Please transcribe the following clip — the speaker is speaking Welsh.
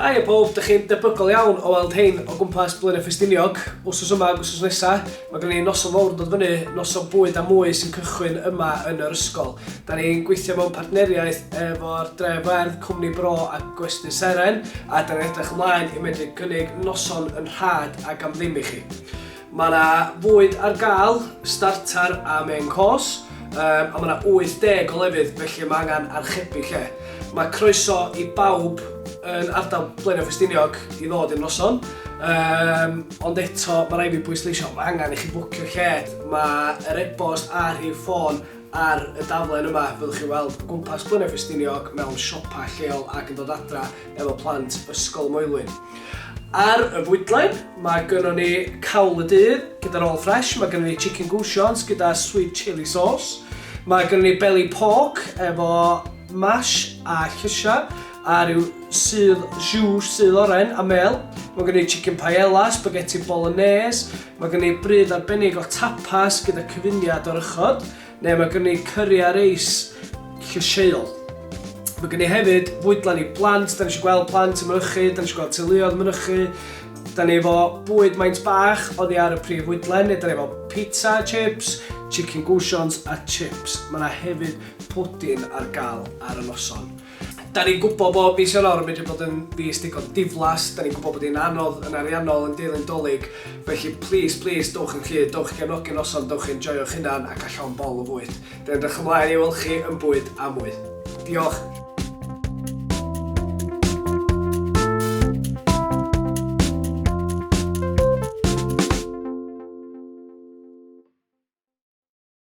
Haia pawb, dych chi'n debygol iawn o weld hein o gwmpas Blaenau Ffestiniog, wsos yma ac wsos nesa. Mae gen ni noson fawr yn dod fyny, noson bwyd a mwy sy'n cychwyn yma yn yr ysgol. Da ni'n gweithio mewn partneriaeth efo'r Dref Werdd, Cwmni Bro a Gwesty Seren, a da ni'n edrych ymlaen i medru cynnig noson yn rhad ac am ddim i chi. Mae yna fwyd ar gael, starter a main course, um, a mae yna 80 o lefydd felly mae angen archebu lle. Mae croeso i bawb yn ardal Blaenau Ffestiniog i ddod i'r noson, um, ond eto mae rai fi bwysleisio, mae angen i chi bwcio lled, mae yr e-bost a'r rhif ffôn ar y daflen yma, fyddwch chi weld gwmpas Blaenau Ffestiniog mewn siopa lleol ac yn dod adra efo plant Ysgol Moelwyn. Ar y fwydlen, mae gynnon ni cawl y dydd gyda'r all fresh, mae gynnon ni chicken goussions gyda sweet chili sauce, mae gynnon ni belly pork efo mash a llysiau, a rhyw sydd jus sydd oren a mel. Mae gen i chicken paella, spaghetti bolognese, mae gen i bryd arbennig o tapas gyda cyfuniad o'r ychod, Neu mae gen i cyri a reis llysieuol. Mae gen i hefyd fwydlen i blant, da ni eisiau gweld plant yn mynychu, da ni eisiau gweld teuluoedd yn mynychu. Da ni efo bwyd maint bach oddi ar y prif fwydlen, neu da ni efo pizza a chips, chicken goosons a chips. Mae yna hefyd pwdin ar gael ar y noson. Da ni'n gwybod bod mis Ionawr yn medru bod yn fis digon diflas, da ni'n gwybod bod hi'n anodd yn ariannol yn deilyn Dolig, felly plis, plis, dowch yn rhydd, dowch i gefnogi'r noson, dowch i enjoio'ch hunan ac â llond bol o fwyd. Dw i'n edrych ymlaen i weld chi yn bwyd a mwy. Diolch!